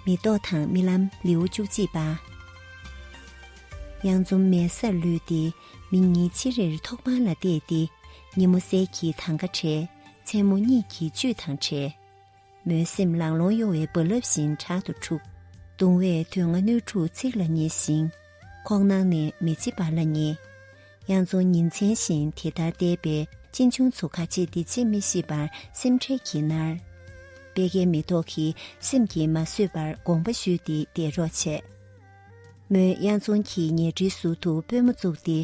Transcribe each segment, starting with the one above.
མེ་ཏོག་དང་རྨི་ལམ་ལེའུ་བཅུ་གཅིག་པ། གཡང་འཛོམ་མའི་སར་ལུས་ཏེ་མི་གཉིས་ཅི་རེར་ཐོག་པང་ལ་བལྟས་ཏེ་ཉིན་མོ་གསལ་གྱིས་ཐང་ག་བྲེས་མཚན་མོ་གཉིད་ཀྱིས་བཅུད་དང་བྲལ། མོའི་སེམས་ལང་ལོང་གཡོ་བའི་རྦ་རླབས་བཞིན་དྲག་ཏུ་འཁྲུག། གདུང་བས་དུས་ལྔ་སྣོད་དྲུག་ཚིག་ལ་ཉེ་ཞིང། ཁོག་ནང་ནས་མི་འཆི་བར་ལ་ཉེ། དབྱངས་རྫོང་ཉིན་མཚན་བཞིན་དེ་ལྟར་བསྡད་པས་གཅེན་གཅུང་ཚོ་ཁ་ཆེ་འདི་ཆེ་མི་ཤེས་པར་སེམས་ཁྲལ་གྱིས་མནར། པད་ཁའི་མེ་ཏོག་གིས་སེམས་ཀྱིས་མ་བཟོད་པར་དགོངས་པ་ཞུས་ཏེ་འདས་རོགས་བྱས། མོན་གཡང་རྫོང་གི་ཉལ་ཁྲིའི་ཟུར་དུ་པུས་མོ་བཙུགས་ཏེ་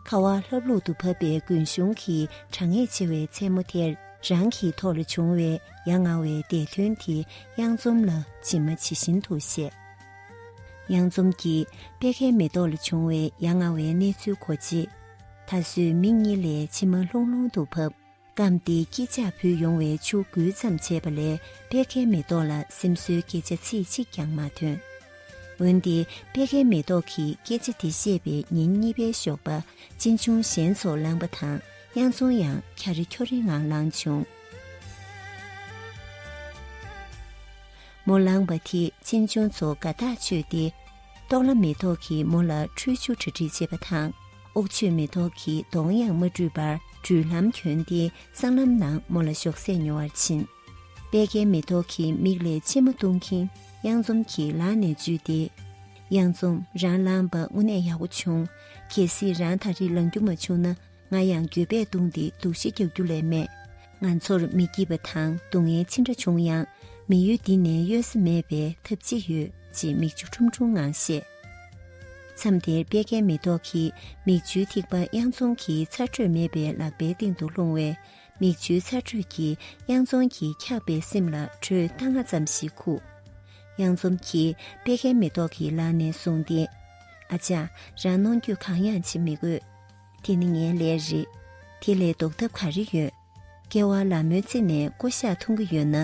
ཁ་བ་ལྷབ་ལྷུབ་ཏུ་བབས་པའི་དགུན་གཞུང་གི་གྲང་ངད་ཆེ་བའི་མཚན་མོ་དེར་རང་གི་ཐོག་ལ་བྱུང་བའི་ཡ་ང་བའི་འདས་མཐུན་དེ་གཡང་འཛོམས་ལ་ཇི་མ་ཇི་བཞིན་དུ་བཤད། གཡང་འཛོམས་ཀྱིས་པད་ཁའི་མེ་ཏོག་ལ་བྱུང་བའི་ཡ་ང་བའི་གནས་ཚུལ་གོ་རྗེས། ད་གཟོད་མིག་གཉིས་ལས་མཆི་མ་ལྷུང་ལྷུང་དུ་བབས། སྐམ་སྟེ་སྐྱིད་ལྕགས་ཕུལ་ཡོང་བས་ཆུ་འགུལ་ཙམ་བྱས་པ་ལས་པད་ཁའི་མེ་ཏོག་ལ་སེམས་གསོའི་སྐད་ཆ་ཚིག་གཅིག་ཀྱང་མ་ཐོན། འོན་ཏེ་པད་ཁའི་མེ་ཏོག་གིས་སྐད་ཆ་དེ་བཤད་པའི་ཉིན་གཉིས་པའི་ཞོགས་པ་གཅེན་གཅུང་གཞན་ཚོ་ལངས་པ་དང་དབྱངས་འཚོང་ཡང་འཁྱར་རེ་འཁྱོར་རེའི་ངང་ལངས་བྱུང། མོ་ལངས་པ་དེས་གཅེན་གཅུང་ཚོ་དགའ་ཐག་ཆོད་དེ། ཏོག་ལ་མེ་ཏོག་གིས་མོ་ལ་ཁྲུས་ཆུ་གྲ་སྒྲིག་བྱེད་པ་དང། ཨོག་ཆོས་མེ་ཏོག་གི་གདོང་ཡང་མ་བཀྲུས་པར་སྦྲུལ་ལྷམ་གྱོན་ཏེ་སྲང་ལམ་ནག་མོ་ལ་ཞོགས་ཟས་ཉོ་བར་ཕྱིན། པད་ཁའི་མེ་ཏོག་གི་མིག་ལས་མཆི་མ་བཏུང་གིན་གཡང་འཛོམས་ཀྱི་ལག་ནས་འཇུས་ཏེ། གཡང་འཛོམས་རང་ལངས་པ་དངོས་གནས་ཡག་པོ་བྱུང། གལ་སྲིད་རང་ད་རེས་ལངས་རྒྱུ་མ་བྱུང་ན་ང་ཡང་འགྱོད་པས་གདུང་སྟེ་འདུག་བཞི་རྒྱག་རྒྱུ་ལས་མེད། ང་ཚོར་མི་སྐྱིད་པ་དང་སྡུག་བསྔལ་ཅི་འདྲ་བྱུང་ཡང་མི་ཡུལ་འདི་ནས་གཡོལ་ས་མེད་པས་ཐབས་ཅི་ཡོད་ཅེས་མིག་ཆུ་ཁྲུམ་ཁྲུམ་ངང་བཤད། མཚམས་དེར་དཔེ་རྒན་མེ་ཏོག་གིས་མིག་ཆུའི་ཐིགས་པ་དབྱངས་རྫོང་གི་ཚ་དྲོད་མེད་པའི་ལག་པའི་སྟེང་དུ་ལྷུང་བས་མིག་ཆུའི་ཚ་དྲོད་ཀྱིས་དབྱངས་རྫོང་གི་འཁྱག་པའི་སེམས་ལ་དྲོད་རྟ་རྔ་ཙམ་ཞིག་ཁུག། དབྱངས་རྫོང་གིས་དཔེ་རྒན་མེ་ཏོག་གི་ལག་ནས་བཟུང་སྟེ། ཨ་ཅག་རང་གནོང་འགྱོད་གང་ཡང་བྱེད་མི་དགོས། དེ་ནི་ངའི་ལས་རེད། དེ་ལས་ལྡོག་ཐབས་ག་རེ་ཡོད། སྐྱེ་བ་ལ་མོས་ཚིག་ནས་བསྐོ་བཞག་འཐུང་གི་ཡོད་ན་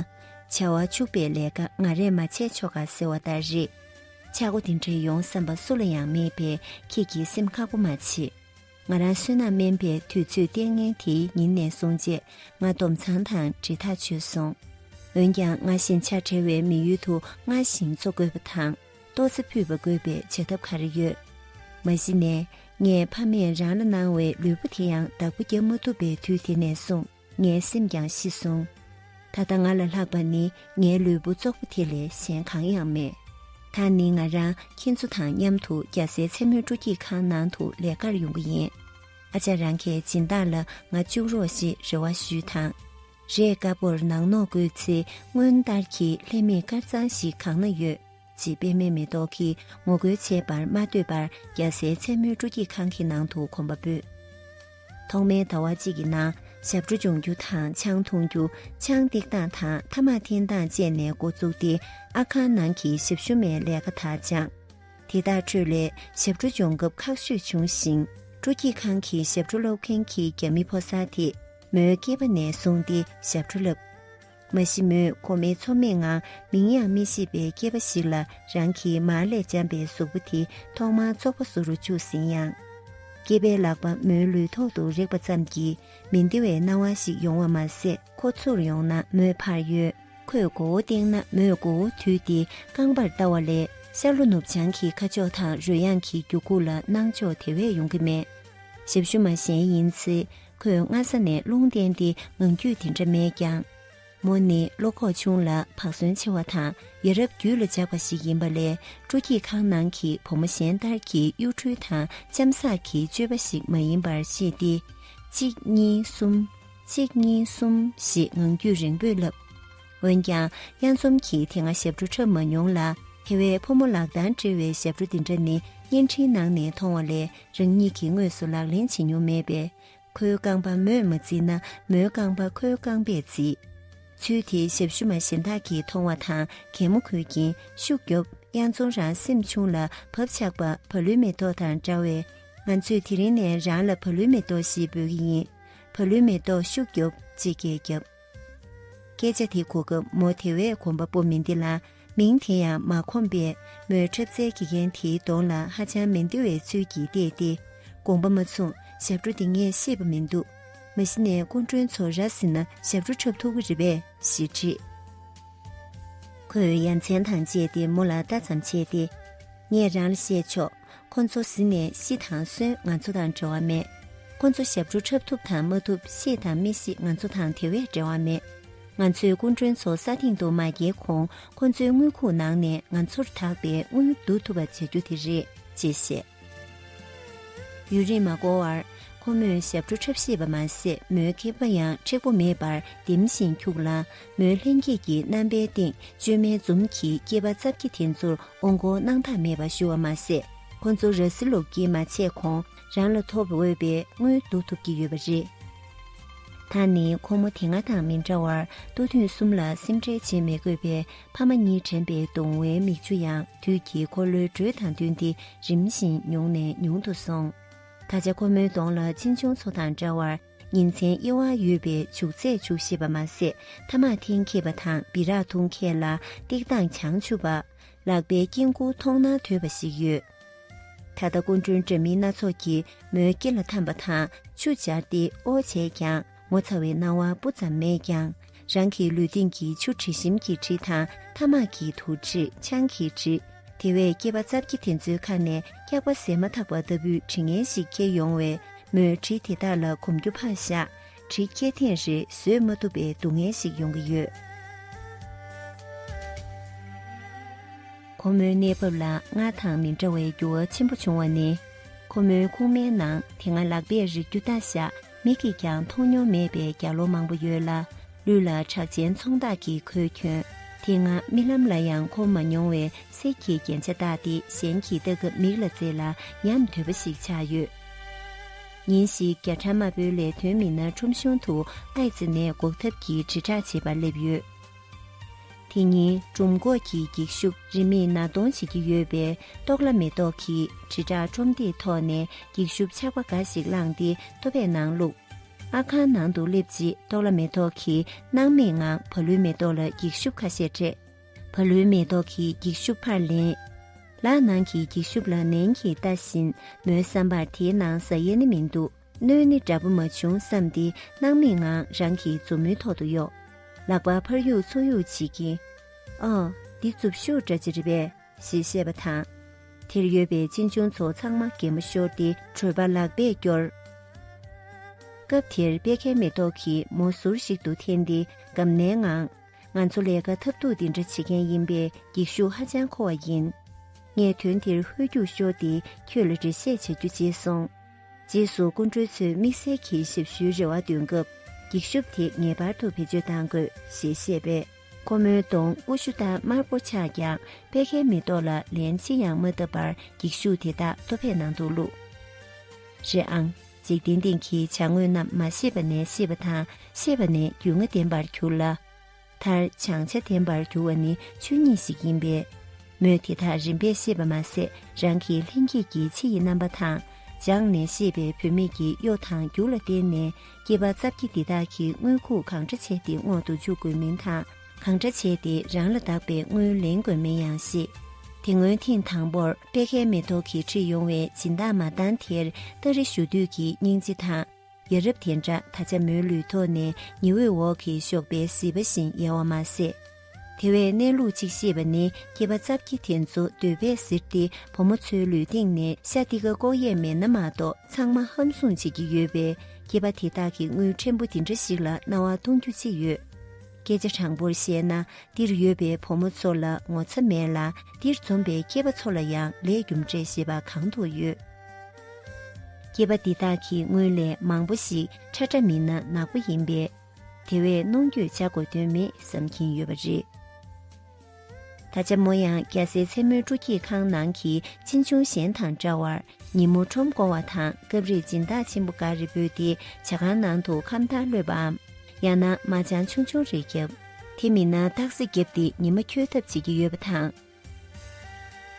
བྱ་བ་བཅུག་པའི་ལས་ཀ་ང་རས་མ་བྱས་ཆོག་ག་ཟེར་བ་ལྟར་རེད། ཆག་སྒོ་འདི་འདྲེ་ཡོང་བསམ་པ་སུ་ལ་ཡང་མེད་པས་ཁྱེད་ཀྱི་སེམས་ཁག་པོ་མ་བྱེད། ང་རང་བསོད་ནམས་དམན་པའི་དུས་ཚོད་ལྟས་ངན་དེའི་ཉིན་ནས་བཟུང་རྗེས་ང་སྡོམ་ཚང་དང་འབྲེལ་ཐག་ཆོད་སོང། འོན་ཀྱང་ང་བཞིན་ཆགས་བྲལ་བའི་མི་ཡུལ་དུ་སྔར་བཞིན་འཚོ་དགོས་པ་དང། ལྟོ་འཚིར་ཕུད་པ་དགོས་པའི་བྱ་ཐབས་ག་རེ་ཡོད། མ་གཞི་ནས་ངས་ཕ་མས་རང་ལ་གནང་བའི་ལུས་པོ་དེ་ཡང་བདག་པོ་རྒྱབ་མ་ཐུབ་པའི་དུས་དེ་ནས་བཟུང་ངའི་སེམས་ཀྱང་ཤི་སོང། ད་ལྟ་ང་ལ་ལྷག་པ་ནི་ངའི་ལུས་པོ་ཙོག་པོ་དེ་ལས་གཞན་གང་ཡང་མེད། ད་ནི་ང་རང་ཁྱེད་ཚོ་དང་མཉམ་དུ་རྒྱ་བཟའི་མཚན་མོའི་སྤྲོ་སྐྱིད་ཁང་ནང་དུ་ལས་ཀར་ཡོང་གི་ཡིན། ཨ་ཅག་རང་གི་སྦྱིན་བདག་ལ་ང་བཅུག་རོགས་ཞེས་རེ་བ་ཞུས་དང། རས་དཀར་པོར་ནག་ནོག་བཀོད་ཚེ་སྔོན་ལྟར་གྱི་ལྷད་མེད་དཀར་གཙང་ཞིག་གང་ན་ཡོད། ཅེས་པད་མའི་མེ་ཏོག་གིས་ངོ་རྒོལ་བྱས་པར་མ་ལྟོས་པར་རྒྱལ་སའི་མཚན་མོའི་སྤྲོ་སྐྱིད་ཁང་གི་ནང་དུ་གོམ་པ་སྤོས། ཐོག་མའི་ཟླ་བ་གཅིག་གི་ནང་ཞབས་བྲོ་སྦྱོང་རྒྱུ་དང་ཆང་འཐུང་རྒྱུ་ཆང་སྟེགས་སྟངས་དང་ཐ་མག་འཐེན་སྟངས་སྤྱད་ནས་འགོ་བཙུགས་ཏེ་ཨ་ཁང་ནང་གི་ཞབས་ཞུ་མའི་ལས་ཀ་དག་སྦྱངས། དེ་དག་ཁྲོད་ལས་ཞབས་བྲོ་སྦྱོང་སྐབས་ཁག་ཤོས་བྱུང་ཞིང་སྤྲོ་སྐྱིད་ཁང་གི་ཞབས་བྲོ་སློབ་མཁན་གྱི་རྒྱ་མི་ཕོ་གསར་དེས། མོའི་སྐྱེས་པ་ནས་བཟུང་སྟེ་ཞབས་བྲོ་བསླབས། མ་གཞི་མོས་གོ་མེད་ཚོར་མེད་ངང་མིང་ཡང་མི་ཤེས་པའི་སྐྱེས་པ་ཞིག་ལ་རང་གི་མར་ལས་འཇམ་པའི་གཟུགས་པོ་དེ་ཐོག་མར་ཚོགས་པ་བཟོ་རུ་བཅུག་ཟིན་ཡང། སྐྱེས་པའི་ལག་པ་མོའི་ལུས་ཐོག་ཏུ་རེག་པ་ཙམ་གྱིས་མི་བདེ་བའི་སྣང་བ་ཞིག་ཡོང་བ་མ་ཟད་ཁོ་ཚུར་ཡོང་ན་མོས་ཕར་གཡོལ། ཁོས་མགོ་བོ་བཏེགས་ན་མོས་མགོ་བོ་དུད་དེ་རྐང་པར་བལྟ་བ་ལས་ཤར་ལྷོ་ནུབ་བྱང་གི་ཁ་ཕྱོགས་དང་རོལ་དབྱངས་ཀྱི་འགྱུ་ཁུག་ལ་སྣང་འཇོག་དེ་བས་ཡོང་གི་མེད། ཞབས་ཞུ་མ་གཞན་ཡིན་ཚེ་ཁོས་སྔ་ས་ནས་རླུང་བསྟན་ཏེ་ངང་རྒྱུད་དེ་འདྲ་མེད་ཀྱང། མོ་ནི་བློ་ཁོག་ཆུང་ལ་བག་ཟོན་ཆེ་བ་དང་ཡ་རབས་རྒྱུད་ལ་འཇགས་པ་ཞིག་ཡིན་པ་ལས་སྤྲོ་སྐྱིད་ཁང་ནང་གི་བུ་མོ་གཞན་ལྟར་གྱི་གཡོ་འཕྲུལ་དང་གཅམ་བསགས་ཀྱི་སྤྱོད་པ་ཞིག་མ་ཡིན་པར་ཤེས་ཏེ། གཅིག་གཉིས་གསུམ། གཅིག་གཉིས་གསུམ་ཞེས་ངང་རྒྱུད་རིང་པོས་བསླབས། འོན་ཀྱང་དབྱངས་འཛོམས་ཀྱིས་དེ་སྔ་ཞབས་བྲོ་འཁྲབ་མ་མྱོང་ལ་དེ་བས་ཕོ་མོ་ལག་གདང་སྦྲེལ་བའི་ཞབས་བྲོ་འདི་འདྲ་ནི་བརྙན་འཕྲིན་ནང་ནས་མཐོང་བ་ལས་རང་ཉིད་ཀྱིས་དངོས་སུ་ལག་ལེན་བྱེད་མྱོང་མེད་པས། ཁོའི་རྐང་པ་མོས་མ་བརྩིས་ན་མོའི་རྐང་པ་ཁོའི་རྐང་པས་བརྩི། ཚུལ་དེ་ཞབས་ཞུ་མ་གཞན་དག་གིས་མཐོང་བ་དང་གད་མོ་ཁུར་གྱིན་ཤུགས་རྒྱོབ་དབྱངས་འཛོམས་རང་སེམས་ཆུང་ལ་བབ་ཆགས་པ་བ་ལུའི་མེ་ཏོག་དང་འདྲ་བས། ང་ཚོས་དེ་རིང་ནས་རང་ལ་བ་ལུའི་མེ་ཏོག་ཞེས་འབོད་ཀྱི་ཡིན། བ་ལུའི་མེ་ཏོག་ཤུགས་རྒྱོབ་ཅེས་སྐད་བརྒྱབ། སྐད་ཆ་དེ་གོ་སྐབས་མོ་དེ་བས་གོམ་པ་སྤོ་མི་འདི་ལ་མིང་དེ་ཡང་མ་ཁོམ་པས་མོས་འཁྲབ་རྩལ་དགེ་རྒན་དེའི་གདོང་ལ་ཧ་ཅང་མི་འདི་བའི་ཚུལ་གྱིས་བལྟས་ཏེ་དགོངས་པ་མ་མཚུངས་ཞབས་བྲོ་འདི་ངས་ཤེས་པ་མི་འདུག་མ་གཞི་ནས་སྐུ་མགྲོན་ཚོ་ར་བཟི་ན་ཞབས་བྲོ་འཁྲབ་ཐུབ་གི་རེད་པས་ཞེས་དྲིས། ཁོས་ཡ་མཚན་དང་བཅས་ཏེ་མོ་ལ་ལྟ་ཙམ་བྱས་ཏེ། ངས་རང་ལ་བཤད་ཆོག་ཁོ་ཚོ་བཟི་ནས་ཤི་དང་གསོན་ང་ཚོ་དང་འབྲེལ་བ་མེད། ཁོ་ཚོ་ཞབས་བྲོ་འཁྲབ་ཐུབ་དང་མ་ཐུབ་ཤི་དང་མི་ཤི་ང་ཚོ་དང་དེ་བས་འབྲེལ་བ་མེད། ང་ཚོས་སྐུ་མགྲོན་ཚོ་ས་སྟེང་དུ་མ་འགྱེལ་གོང་ཁོ་ཚོའི་དངུལ་ཁུག་ནང་ནས་ང་ཚོར་དག་པའི་དངུལ་བསྡུ་ཐུབ་པ་བྱ་རྒྱུ་དེ་རེད་ཅེས་བཤད། ཡུན་རིང་མ་འགོར་བར་ཁོ་མོས་ཞབས་བྲོ་འཁྲབ་ཤེས་པ་མ་ཟད་མོའི་ཁེབས་པ་ཡང་མཁྲེགས་པོ་མེད་པར་ལྡེམ་བཞིན་འཁྱུག་ལ་མོའི་ལྷན་སྐྱེས་ཀྱི་རྣམ་པའི་སྟེང་བཅོས་མའི་འཛུམ་གྱིས་སྐྱེས་པ་རྩ་བརྒྱད་དེ་ཚོར་འོང་གོ་སྣང་ཐག་མེད་པར་ཞུ་བ་མ་ཟད་ཁོ་ཚོ་ར་བཟི་ལུག་གིས་མ་བྱས་གོང་རང་ལ་ཐོབ་འོས་པའི་དངུལ་བསྡུ་ཐུབ་ཀྱི་ཡོད་པ་རེད། ད་ནི་ཁོ་མོ་དེ་སྔ་དང་མི་འདྲ་བར་སྟོ་ཐུང་གསུམ་ལ་སེམས་ཁྲལ་བྱེད་མི་དགོས་པས་ཕ་མ་གཉིས་དྲན་པའི་གདུང་བའི་མིག་ཆུ་ཡང་དུས་ཀྱི་འཁོར་ལོའི་འགྲོས་དང་བསྟུན་ཏེ་རིམ་བཞིན་ཉུང་ནས་ཉུང་དུ་སོང། ད་ཆ་ཁོ་མོའི་གདོང་ལ་གཅིན་ཆུང་ཚོ་དང་འདྲ་བར། ཉིན་མཚན་དབྱེ་བ་ཡོད་པའི་བྱུག་ཚད་བྱུག་བཞེས་པ་མ་ཟད་ཐ་མག་འཐེན་མཁས་པ་དང་སྦི་རག་འཐུང་མཁས་ལ་སྟེགས་སྟངས་བྱང་ཆུབ་པ། ལག་པའི་དཀྱིལ་འཁོར་མཐོང་ན་དོད་པ་ཞིག་ཡོད། ད་ལྟ་སྐུ་མགྲོན་འདྲ་མིན་སྣ་ཚོགས་ཀྱིས་མོའི་སྐེ་ལ་འཐམས་པ་དང་ཆུ་སྦྱར་ཏེ་ཨོ་བྱས་ཀྱང་ངོ་ཚ་བའི་སྣང་བ་སྤུ་ཙམ་མེད་ཀྱང། རང་གི་ལུས་སྟེང་གི་ཆུ་དྲི་ཞིམ་གྱི་དྲི་དང་ཐ་མག་གི་དུག་དྲི་ཆང་གི་དྲི། དེ་བས་སྐྱེས་པ་རྩ་བརྒྱད་དེ་ཚོའི་ཁ་ནས་སྐྱག་པ་ཟད་མ་ཐག་པ་ལྟ་བུའི་དྲི་ངན་ཞིག་སྐྱེས་ཡོང་བས་མོས་དྲི་དེ་དག་ལ་གོམས་རྒྱུ་ཕངས་ཤག་དྲི་སྐྱེས་ཐེངས་རེ་བཟོད་མ་ཐུབ་པའི་སྡུག་བསྔལ་ཞིག་ཡོང་གི་ཡོད། ཁོ་མོའི་གནས་བབ་ལ་ང་དང་མི་འདྲ་བའི་འགྱུར་བ་ཆེན་པོ་བྱུང་བ་ནི། ཁོ་མོའི་ཁུག་མའི་ནང་དེ་སྔ་ལག་པས་རིག་རྒྱུ་ལྟ་ཞག་མིག་གིས་ཀྱང་མཐོང་མྱོང་མེད་པའི་རྒྱ་ལོ་མང་པོ་ཡོད་ལ་ལུས་ལ་ཁྲག་ཆེན་ཚོང་བདག་གིས་གོས་གྱོན་དེ་སྔ་རྨི་ལམ་ལ་ཡང་མཁོ་མ་མྱོང་བའི་གསེར་གྱི་རྒྱན་ཆ་བཏགས་ཏེ་གཞན་གྱིས་ལྟ་སྐབས་མིག་ལ་མཛེས་ལ་ཉམས་དོད་པ་ཞིག་ཆགས་ཡོད། ཉིན་ཞིག་རྒྱ་ཕྲ་མ་བོའི་ལས་དོན་མི་སྣ་ཁྲོམ་གཞུང་དུ་ཨའི་ཙི་ནད་འགོག་ཐབས་ཀྱི་དྲིལ་བསྒྲགས་བྱེད་པར་སླེབས་ཡོད། དེ་ཉིན་འབྲུམ་འགོག་གི་འགྱིག་ཤུབས་རིན་མེད་ན་གདོང་བྱེད་ཀྱི་ཡོད་པའི་རྟོགས་ལ་མེ་ཏོག་གིས་དྲིལ་བསྒྲགས་ཁྲོམ་སྟེགས་ཐོག་ནས་འགྱིག་ཤུབས་ཆག་པ་འགའ་ཞིག་བླངས་ཏེ་ལྟོ་བས་ནང་བླུགས། ཨ་ཁང་ནང་དུ་སླེབས་རྗེས་རྟོགས་ལ་མེ་ཏོག་གིས་སྣང་མེད་ངང་བ་ལུའི་མེ་ཏོག་ལ་འགྱིག་ཤུབས་ཁ་ཤས་སྤྲད། བ་ལུའི་མེ་ཏོག་གིས་འགྱིག་ཤུབས་ཕར་ལེན། ལག་ནང་གི་འགྱིག་ཤུབས་ལ་ནན་གྱིས་ལྟ་བཞིན་མོའི་བསམ་པར་དེའི་ནང་ཟ་ཡས་ནི་མི་འདུག། སྣོད་ནི་འདྲ་པོ་མ་བྱུང་བསམས་ཏེ་སྣང་མེད་ངང་རང་གི་མཛུབ་མོའི་ཐོག་ཏུ་གཡོགས། ལག་པ་ཕར་གཡུག་ཚུར་གཡུག་བྱེད་ཀྱིན། ཨ། འདི་རྩུབ་ཤོག་འདྲ་ཅི་རེད་པས། ཞེས་བཤད་པ་དང། དེར་ཡོད་པའི་གཅེན་གཅུང་ཚོ་ཚང་མ་གད་མོ་ཤོར་ཏེ་བྲོས་པ་ལག་པས་བསྐྱོར། སྐབས་དེར་པད་ཁའི་མེ་ཏོག་གིས་མོ་ཟུར་ཞིག་ཏུ་འཐེན་ཏེ་སྒམ་ནའི་ངང། ང་ཚོ་ལས་ཀ་ཐབས་སྡུག་འདི་འདྲ་བྱེད་མཁན་ཡིན་པས་འགྱིག་ཤུགས་ཧ་ཅང་མཁོ་བ་ཡིན། ངས་དོན་དེར་ཧོལ་རྒྱུགས་ཤོར་ཏེ་ཁྱོད་ལ་འགྲེལ་བཤད་བྱ་རྒྱུ་བརྗེད་སོང། རྗེས་སུ་སྐུ་མགྲོན་ཚོས་དམིགས་བསལ་གྱི་ཞབས་ཞུའི་རེ་བ་འདོན་སྐབས་འགྱིག་ཤོབ་དེ་ངེས་པར་དུ་བེད་སྤྱོད་གཏང་དགོས་ཞེས་བཤད་པས། ཁོ་མོའི་གདོང་སྐུ་ཤུ་དང་དམར་པོ་ཆགས་ཀྱང་པད་ཁའི་མེ་ཏོག་ལ་ལན་ཅི་ཡང་མ་བཏབ་པར་འགྱིག་ཤུག་དེ་དག་ལྟོ་ཕད་ནང་དུ་བླུགས། རེད་ཨང། འཇིག་རྟེན་སྟེང་གི་བྱ་དངོས་རྣམས་མ་ཤེས་པ་ནས་ཤེས་པ་དང་ཤེས་པ་ནས་རྒྱུས་མངའ་ལྡན་པར་གྱུར་ལ། མཐར་བྱང་ཆ་ལྡན་པར་འགྱུར་བ་ནི་ཆོས་ཉིད་ཞིག་ཡིན་པས། མོས་དེ་དག་རིམ་པས་ཤེས་པ་མ་ཟད་རང་གི་ལྷན་སྐྱེས་ཀྱི་ཕྱི་ཡི་རྣམ་པ་དང་སྦྱངས་ནས་ཤེས་པའི་བུད་མེད་ཀྱི་གཡོ་དང་རྒྱུ་ལ་བརྟེན་ནས་སྐྱེས་པ་རྩ་བརྒྱད་འདི་དག་གི་དངོས་ཁུངས་གང་འདྲ་བྱས་ཏེ་སྔོག་ཏུ་འཇུག་དགོས་མིན་དང་གང་འདྲ་བྱས་ཏེ་རང་ལ་གདགས་པའི་དངུལ་ལེན་དགོས་མིན་ཡང་ཤེས། དེ་སྔོན་ཐེངས་དང་པོར་དཔལ་ཁའི་མེ་ཏོག་གི་ཁྲིད་ཡོང་བའི་སྦྱིན་བདག་མ་བཏང་དེར་སྟ་རེ་ཞུ་དུས་ཀྱི་སྙིང་རྗེ་དང། ཡ་རབས་དེ་འདྲ་ད་ཆ་མོའི་ལུས་ཐོག་ནས་ཉི་འོད་འོག་གི་ཞོགས་པའི་བཟི་བ་བཞིན་ཡལ་བ་མ་ཟད། དེ་བས་གནས་ལུགས་གཅིག་ཤེས་པ་ནི་སྐྱེས་པ་རྩ་བརྒྱད་དེ་ཚོ་འདོད་པས་གཟིར་ཏེ་བུ་མོ་ཚོའི་ལུས་སྟེང་ནས་ཤ་ཏི་ཀ་ལྐོག་ཡས་མེད་ན་མ་གཏོགས་ཚང་མ་ཧམ་བཟུང་བྱེད་ཀྱི་ཡོད་པས་སྐྱེས་པ་དེ་དག་གི་དངུལ་ཕྲན་བུ་འདི་འདྲ་ཞིག་ལ་རྣ་བ་སྟོང་རྒྱུ་ཅི་ཡོད། སྐད་ཆ་དྲང་པོར་བཤད་ན་འདིར་ཡོད་པའི་བུ་མོ་ཚོ་ལ་ངོ་ཚ་མེད་ལ་འདིར་འཛོམས་པའི་སྐྱེས་པ་ཚོ་ལ་ཡང་ལས་རྒྱུ་འབྲས་ཞེས་པ་གང་དུ་ཡོད། སྐྱེས་པ་འདི་དག་གི་སྔོན་ལས་མང་པོ་ཞིག་ཁྲ་ཁྲ་མིན་ན་ནག་པོ་ཡིན་པས། དེ་བས་གནོང་འགྱོད་བྱ་དགོས་དོན་མེད་བསམ་གྱིན་ཡོད་པ་རེད། ད་ཆ་མོ་ཡང་རྒྱ་སེའི་མཚན་མོའི་སྤྲོ་སྐྱིད་ཁང་ནང་གི་གཅེན་གཅུང་གཞན་དང་འདྲ་བར་ཉིན་མོ་ཁྲོམ་སྐོར་བ་དང་སྐབས་རེ་སྦྱིན་བདག་ཆེན་པོ་འགའ་རེ་འབོད་དེ་བྱ་ཁང་ནང་དུ་ཁམས་ཐར་གློད་པའམ་ཡང་ན་མ་ཅང་ཆུང་ཆུང་རེ་བརྒྱབ། དེ་མིན་ན་སྟག་གཟིག་བརྒྱབ་སྟེ་ཉི་མ་འཁྱོལ་ཐབས་བྱེད་ཀྱི་ཡོད་པ་དང།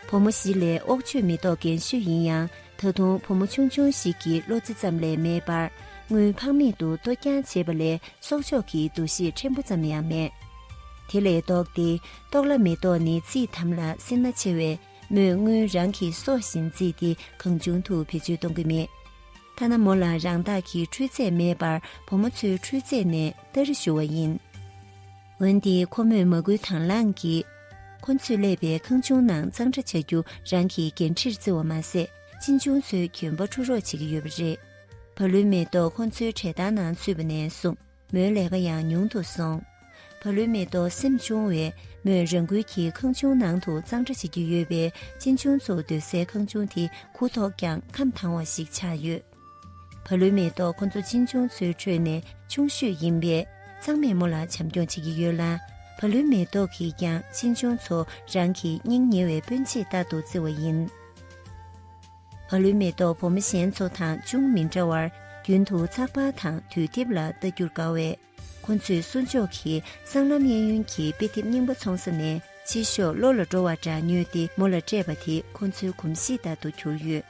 བུ་མོ་བཞི་ལས་ཨོག་ཆོས་མི་ཐོག་རྒན་ཤོས་ཡིན་ཡང་ད་དུང་བུ་མོ་ཆུང་ཆུང་ཞིག་གི་བློ་རྩེ་ཙམ་ལས་མེད་པར་དངུལ་ཕངས་མེད་དུ་གཏོ་རྐྱང་བྱེད་པ་ལས་གསོག་འཇོག་གི་འདུ་ཤེས་ཕྲན་བུ་ཙམ་ཡང་མེད། དེ་ལས་ལྡོག་སྟེ་ལྟོགས་ལ་མི་ལྟོགས་ནི་ཚིག་དམ་ལ་སེར་སྣ་ཆེ་བས་མོས་དངུལ་རང་གི་སྲོག་བཞིན་བརྩིས་ཏེ་གང་བྱུང་དུ་བེད་སྤྱོད་གཏོང་གི་མེད། ཐ་ན་མོ་ལ་རང་བདག་གི་འཕྲུལ་རྫས་མེད་པར་བུ་མོ་ཚོའི་འཕྲུལ་རྫས་ནས་སྟ་རེ་བཞུ་བ་ཡིན། འོན་ཏེ་ཁོ་མོས་མ་སྐུལ་དང་བླངས་ཀྱིས། ཁོ་ཚོས་གླས་པའི་ཁང་ཆུང་ནང་གཙང་སྦྲ་བྱ་རྒྱུ་རང་གི་འགན་འཁྲིར་བརྩི་བ་མ་ཟད་གཅེན་གཅུང་ཚོའི་གྱོན་པ་འཁྲུ་རོགས་བྱེད་ཀྱི་ཡོད་པ་རེད། བ་ལུའི་མེ་ཏོག་ཁོ་ཚོའི་གྲལ་སྟར་ནང་ཚུད་པ་ནས་བཟུང་མོའི་ལས་ཀ་ཡང་ཉུང་དུ་སོང། བ་ལུའི་མེ་ཏོག་སེམས་ཆུང་བས་མོས་རང་འགུལ་གྱིས་ཁང་ཆུང་ནང་དུ་གཙང་སྦྲ་བྱེད་ཀྱི་ཡོད་པས་གཅེན་གཅུང་ཚོ་སྡོད་སའི་ཁང་ཆུང་དེ་གུ་དོག་ཀྱང་ཁམས་དྭངས་བ་ཞིག་ཆགས་ཡོད། བ་ལུའི་མེ་ཏོག་ཁོ་ཚོ་གཅེན་གཅུང་ཚོའི་ཁྲོད་ནས་ཆུང་ཤོས་ཡིན་པས་ཚང་མས་མོ་ལ་བྱམས་སྐྱོང་བྱེད་ཀྱི་ཡོད་ལ། བ་ལུའི་མེ་ཏོག་གིས་ཀྱང་གཅེན་གཅུང་ཚོ་རང་གི་སྙིང་ཉེ་བའི་སྤུན་མཆེད་ལྟར་དུ་བརྩི་བ་ཡིན། བ་ལུའི་མེ་ཏོག་བུ་མོ་གཞན་ཚོ་དང་ཅུང་མི་འདྲ་བར་རྒྱུན་དུ་ཚགས་པར་དང་དུས་དེབ་ལ་ལྟ་རྒྱུར་དགའ་བས། ཁོ་ཚོས་གསུར་མཆོག་གི་གསང་རྣམ་གཡས་གཡོན་གྱི་དཔེ་དེབ་རྙིང་པ་འཚོང་ས་ནས་ཕྱིར་ཤོག་བློ་ལ་འགྲོ་བ་འདྲ་ཉོས་ཏེ་མོ་ལ་སྤྲད་པ་དེ་ཁོ་ཚོའི་གོམས་གཤིས་ལྟར་དུ་གྱུར་ཡོད།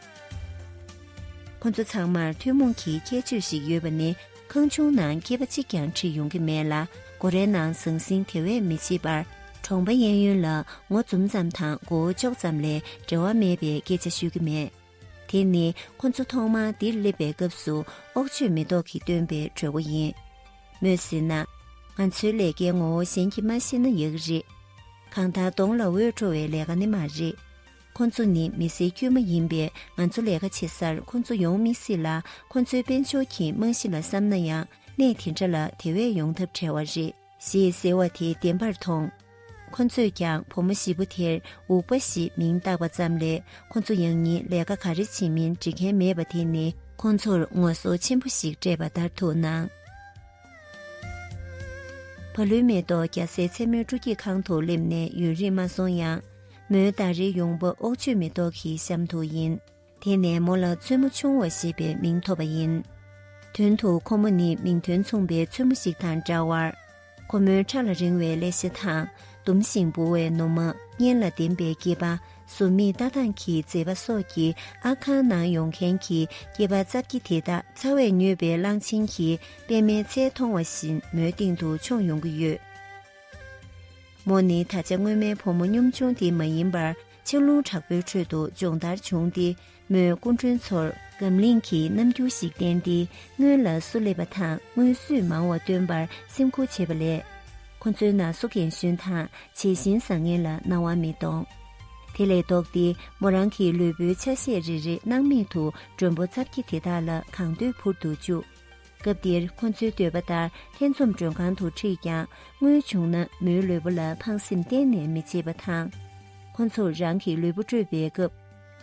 ཁོ་ཚོ་ཚང་མར་ཐུན་མོང་གི་ཁྱད་ཆོས་ཤིག་ཡོད་པ་ནི་ཁང་ཆུང་ནང་སྐྱེས་པ་གཅིག་ཀྱང་ཁྲིད་ཡོང་གི་མེད་ལ་སྒོ་རའི་ནང་ཟང་ཟིང་དེ་བས་མི་བྱེད་པར། གྲོང་པ་གཡས་གཡོན་ལ་ངོ་འཛུམ་ཙམ་དང་མགོ་བོ་ལྕོག་ཙམ་ལས་འབྲེལ་བ་མེད་པའི་སྐད་ཆ་ཤོད་ཀྱི་མེད། དེ་ནི་ཁོ་ཚོ་ཐོག་མར་འདིར་སླེབས་པའི་སྐབས་སུ་ཨོག་ཆོས་མེ་ཏོག་གིས་བཏོན་པའི་གྲོས་འགོ་ཡིན། མོས་ཟེར་ན། ང་ཚོའི་ལས་ཀའི་ངོ་བོ་གཞན་གྱིས་མ་ཤེས་ན་ཡག་རེད། གང་ལྟར་གདོང་ལ་འོད་འཕྲོ་བའི་ལས་ཀ་ནི་མ་རེད། ཁོ་ཚོ་ནི་མི་སེར་དཀྱུས་མ་ཡིན་པས་ང་ཚོ་ལས་ཀ་བྱེད་སར་ཁོ་ཚོ་ཡོང་མི་སྲིད་ལ་ཁོ་ཚོའི་དཔལ་འབྱོར་གྱི་རྨང་གཞི་ལ་བསམ་ན་ཡང་གནས་དེ་འདྲ་ལ་དེ་བས་ཡོང་ཐབས་བྲལ་བ་རེད། ཞེས་ཟེར་བ་དེ་བདེན་པར་མཐོང། ཁོ་ཚོས་ཀྱང་བུ་མོ་བཞི་པོ་དེར་འུག་པ་ཞེས་མིང་བཏགས་པ་ཙམ་ལས་ཁོ་ཚོ་ཡང་ཉིད་ལས་ཀ་ག་རེ་བྱེད་མིན་འདྲི་མཁན་མེད་པ་དེ་ནི་ཁོ་ཚོར་ངོ་སོ་ཆེན་པོ་ཞིག་སྤྲད་པ་ལྟར་དུ་སྣང། བ་ལུའི་མེ་ཏོག་རྒྱ་སེ་མཚན་མོའི་སྤྲོ་སྐྱིད་ཁང་དུ་སླེབས་ནས་ཡུན་རིང་མ་སོང་ཡང། མོའི་ཟླ་རེའི་ཡོང་འབབ་ཨོག་ཆོས་མེ་ཏོག་གི་གཤམ་དུ་ཡིན། དེ་ནས་མོ་ལ་བཙུན་མོ་ཆུང་བ་ཞེས་པའི་མིང་ཐོགས་པ་ཡིན། དོན་དུ་ཁོ་མོ་ནི་མིང་དོན་མཚུངས་པའི་བཙུན་མོ་ཞིག་དང་འདྲ་བར། ཁོ་མོའི་ཕྲག་ལ་རིང་བའི་ཀླད་ཤ་དང་ཟླུམ་ཞིང་འབུར་བའི་ནུ་མ་གཉེན་ལ་ལྡེམ་པའི་སྐྱེས་པ་ཟུར་མིག་ལྟ་སྟངས་ཀྱི་མཛེས་པ་སོགས་ཀྱིས་ཨ་ཁང་ནང་ཡོང་མཁན་གྱི་སྐྱེས་པ་རྩ་བརྒྱད་དེ་དག་ཚ་བས་མྱོས་པའི་གླང་ཆེན་གྱི་པད་མའི་ཚལ་མཐོང་བ་བཞིན་མོའི་སྟེང་དུ་མཆོངས་ཡོང་གི་ཡོད། མོ་ནི་ད་ཆ་སྔོན་མའི་བུ་མོ་གཉོམ་ཆུང་དེ་མ་ཡིན་པར་ཆར་རླུང་དྲག་པོའི་ཁྲོད་དུ་སྦྱོང་བརྡར་བྱུང་སྟེ་མོས་སྐུ་མགྲོན་ཚོར་སྒམ་བརླིང་གི་རྣམ་འགྱུར་ཞིག་བསྟན་ཏེ་སྔོན་ལ་སུ་སླེབས་པ་དང་སྔོན་སུས་མང་བ་སྟོན་པར་སེམས་ཁུར་བྱེད་པ་ལས། ཁོ་ཚོའི་ན་སོ་རྒན་གཞོན་དང་བྱད་བཞིན་བཟང་ངན་ལ་སྣང་བ་མི་གཏོང། དེ་ལས་ལྡོག་སྟེ་མོ་རང་གི་ལུས་པོའི་ཆ་ཤས་རེ་རེ་སྣང་མེད་དུ་མགྲོན་པོ་རྩ་བརྒྱད་དེ་དག་ལ་གང་འདོད་འཕུར་དུ་བཅུག། སྐབས་འདིར་ཁོ་ཚོའི་འདོད་པ་ལྟར་ལྷན་འཛོམས་མགྲོན་ཁང་དུ་ཁྲིད་ཀྱང་དངུལ་བྱུང་ན་མོའི་ལུས་པོ་ལ་ཕངས་སེམས་གཏན་ནས་མི་བྱེད་པ་དང། ཁོ་ཚོར་རང་གི་ལུས་པོ་སྤྲོད་པའི་སྐབས།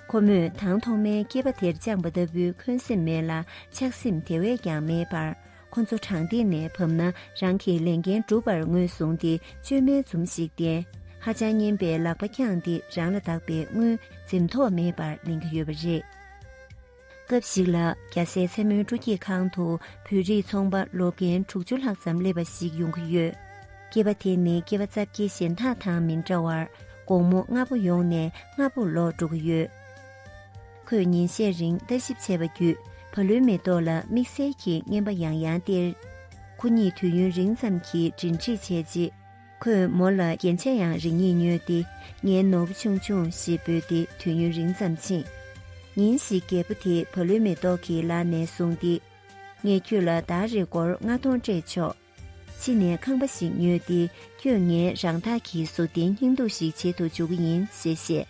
ཁོ་མོས་དང་ཐོག་མའི་སྐྱེས་པ་དེར་བཅངས་པ་ལྟ་བུའི་འཁོན་སེམས་མེད་ལ་ཆགས་སེམས་དེ་བས་ཀྱང་མེད་པར་ཁོ་ཚོ་དྲང་བདེན་ནས་བབས་ན་རང་གི་ལས་འགན་འགྲུབ་པར་ངོས་བཟུང་སྟེ་བཅོས་མའི་འཛུམ་ཞིག་བསྟན། ཧ་ཅང་སྙན་པའི་ལག་པ་བརྐྱངས་ཏེ་རང་ལ་བདག་པའི་དངུལ་འཛེམ་དོགས་མེད་པར་ལེན་གྱི་ཡོད་པ་རེད། སྐབས་ཤིག་ལ་རྒྱ་བཟའི་མཚན་མོའི་སྤྲོ་སྐྱིད་ཁང་དུ་བོད་རིགས་ཚོང་པ་ལོ་རྒན་དྲུག་ཅུ་ལྷག་ཙམ་སླེབས་པ་ཞིག་ཡོང་གི་ཡོད། སྐྱེས་པ་དེ་ནི་སྐྱེས་པ་རྩ་བརྒྱད་གཞན་དག་དང་མི་འདྲ་བར་དགོང་མོ་སྔ་པོ་ཡོང་ནས་སྔ་པོར་ལོག་འགྲོ་གི་ཡོད། ཁོས་ཉིན་ཤས་རིང་ལྟ་ཞིབ་བྱས་པ་བརྒྱུད་བ་ལུའི་མེ་ཏོག་ལ་དམིགས་བསལ་གྱི་རྔན་པ་ཡང་ཡང་སྟེར། ཁོ་གཉིས་དུས་ཡུན་རིང་ཙམ་གྱི་འབྲེལ་འདྲིས་བྱས་རྗེས། ཁོས་མོ་ལ་རྒྱན་ཆས་ཡང་རིང་ཡིན་ཉོས་ཏེ་ངའི་ནོར་བུ་ཆུང་ཆུང་ཞེས་འབོད་དེ་དུས་ཡུན་རིང་ཙམ་ཕྱིན། ཉིན་ཞིག་རྒད་པོ་དེས་བུ་ལོན་མེ་ཏོག་གི་ལག་ནས་བཟུང་སྟེ། ངས་ཁྱོད་ལ་ཟླ་རེར་སྒོར་ལྔ་སྟོང་སྤྲད་ཆོག། ཕྱི་ནས་ཁང་པ་ཞིག་ཉོས་ཏེ་ཁྱོད་ངའི་རང་འཐག་གི་གཟུགས་བརྟེན་སྙིང་སྡུག་ཞིག་བྱེད་དུ་འཇུག་གི་ཡིན་ཞེས་བཤད།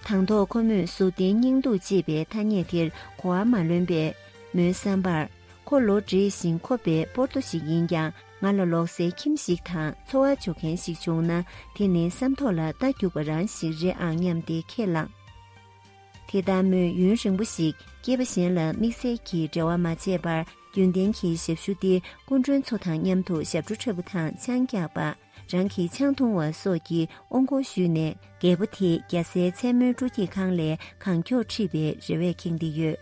དང་ཐོག་ཁོ་མོས་གཟུགས་བརྟེན་སྙིང་སྡུག་ཅེས་པའི་ཐ་སྙད་དེར་གོ་བ་མ་ལོན་པས། མོའི་བསམ་པར། ཁོ་ལོ་འབྲས་ཞིང་ཁོ་པའི་པོར་ཏོ་ཞིག་ཡིན་ཀྱང། ང་ལ་ལོག་སའི་ཁྱིམ་ཞིག་དང་འཚོ་བ་འཇོག་མཁན་ཞིག་བྱུང་ན་དེ་ནི་བསམ་ཐོག་ལ་རྟ་རྒྱུག་པ་རང་ཞིག་རེད་ཨང་སྙམ་སྟེ་ཁས་བླངས། དེ་ལྟར་མོས་ཡུན་རིང་པོ་ཞིག་སྐྱེས་པ་གཞན་ལ་དམིགས་བསལ་གྱི་འབྲེལ་བ་མ་བྱས་པར་རྒྱུན་ལྡན་གྱི་ཞབས་ཞུ་སྟེ་སྐུ་མགྲོན་ཚོ་དང་མཉམ་དུ་ཞབས་བྲོ་འཁྲབ་པ་དང་ཆང་རྒྱག་པ། རང་གི་ཆང་འཐུང་བ་སོགས་ཀྱི་ཨོ་འགོག་ཞུས་ནས་རྒད་པོ་དེས་རྒྱལ་སའི་མཚན་མོའི་སྤྲོ་སྐྱིད་ཁང་ལས་གང་མགྱོགས་ཁྲིད་པའི་རེ་བས་ཁེངས་ཏེ་ཡོད།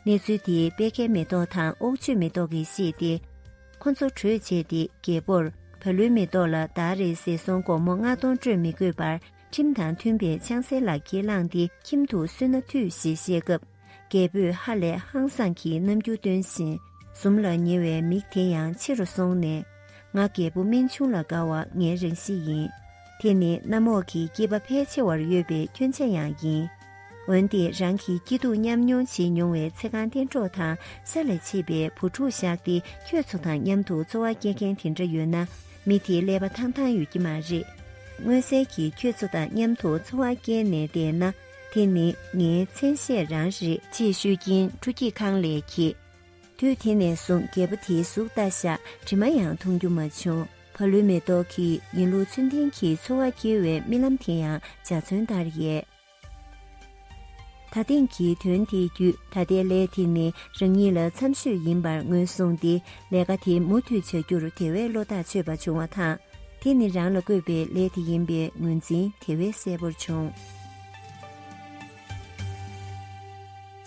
གནས་ཚུལ་དེས་པད་ཁའི་མེ་ཏོག་དང་ཨོག་ཆོས་མེ་ཏོག་གིས་ཤེས་ཏེ། ཁོ་ཚོ་གྲོས་བྱས་ཏེ་རྒྱལ་པོར་བ་ལུའི་མེ་ཏོག་ལ་ཟླ་རེར་ཟས་སོང་སྒོར་མོ་ལྔ་སྟོང་སྤྲོད་མི་དགོས་པར་ཁྲིམས་དང་མཐུན་པའི་ཆང་ཟས་ལག་འཁྱེར་བླངས་ཏེ་ཁྱིམ་དུ་གསོན་ན་འཐུས་ཞེས་བཤད་སྐབས། རྒྱལ་པོས་ཧ་ལས་ཧང་སངས་ཀྱིས་རྣམ་འགྱུར་སྟོན་བཞིན་ཟུམ་ལ་ཉེ་བའི་མིག་དེ་ཡང་ཕྱི་རུ་སོང་ནས། ང་རྒད་པོ་སྨན་ཆུང་ལ་དགའ་བ་ངའི་རང་གཤིས་ཡིན། དེ་ནི་གནམ་འོག་གི་སྐྱིད་པ་ཕལ་ཆེ་བར་ཡོད་པའི་སྐྱོན་ཆ་ཡང་ཡིན། འོན་ཏེ་རང་གི་སྐྱིད་སྡུག་མཉམ་མྱོང་བྱེད་མྱོང་བའི་ཚེ་གང་གཏན་གྲོགས་དང་ས་ལ་མཆེད་པའི་བུ་ཕྲུག་བཞག་སྟེ་ཁྱོད་ཚོ་དང་མཉམ་དུ་འཚོ་བ་སྐྱེལ་མཁན་དེ་འདྲ་ཡོད་ན་མི་དེའི་ཀླད་པ་ཐང་ཐང་ཡོད་ཀྱི་མ་རེད། མངོན་གསལ་གྱིས་ཁྱོད་ཚོ་དང་མཉམ་དུ་འཚོ་བ་སྐྱེལ་ནས་བསྡད་ན་དེ་ནི་ངའི་མཚན་ཤས་རང་རེད། ཅེས་ཤོད་ཀྱིན་ཕྲུ་སྐྱིད་ཁང་ལས་ཁྱི། དུས་དེ་ནས་བཟུང་རྒད་པོ་དེའི་གཟུགས་བལྟ་བཞག་དྲི་མ་ཡང་མཐོང་རྒྱུ་མ་བྱུང། བ་ལུའི་མེ་ཏོག་གིས་ཡིན་ལུགས་ཚུལ་ལྡན་གྱི་འཚོ་བ་སྐྱེལ་བའི་རྨི་ལམ་དེ་ཡང་འཇའ་ཚོན་ལྟར་ཡལ། ད་ཐེངས་ཀྱི་དོན་དེའི་བརྒྱུད་ད་ལྟའི་ལས་དེ་ནི་རང་ཉིད་ལ་འཚམས་ཤོས་ཡིན་པར་ངོས་བཟུང་སྟེ་ལས་ཀ་དེ་མུ་མཐུད་བྱ་རྒྱུར་དེ་བས་བློ་ཐག་ཆོད་པ་བྱུང་བ་དང། དེ་ནི་རང་ལ་བསྐོས་པའི་ལས་དེ་ཡིན་པའི་ངོས་འཛིན་དེ་བས་གསལ་བོར་བྱུང།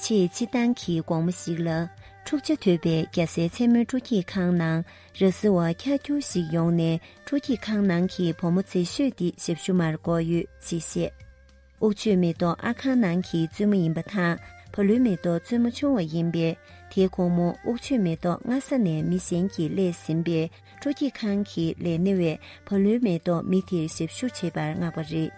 ཆེས་སྤྱི་བཏང་གི་དགོང་མོ་ཞིག་ལ། འཁྲུག་ཆ་དོད་པའི་རྒྱ་སའི་མཚན་མོའི་སྤྲོ་སྐྱིད་ཁང་ནང་ར་བཟི་བ་ཁྱར་ཁྱོར་ཞིག་ཡོང་ནས་སྤྲོ་སྐྱིད་ཁང་ནང་གི་བུ་མོ་ཚེ་ཤོས་འདི་ཞབས་ཞུ་མར་འགོ་ཡོད་ཅེས་བཤད། ཨུག་ཆོས་མེ་ཏོག་ཨ་ཁང་ནང་གི་བཙུན་མོ་ཡིན་པ་དང་བ་ལུའི་མེ་ཏོག་བཙུན་མོ་ཆུང་བ་ཡིན་པས་དེའི་ཁོང་མོ་ཨུག་ཆོས་མེ་ཏོག་སྔ་ས་ནས་མི་གཞན་གྱིས་གླས་ཟིན་པས་སྤྲོ་སྐྱིད་ཁང་གི་ལས་སྣེ་བས་བ་ལུའི་མེ་ཏོག་མི་དེར་ཞབས་ཞུ་བྱེད་པར་མངགས་པ་རེད།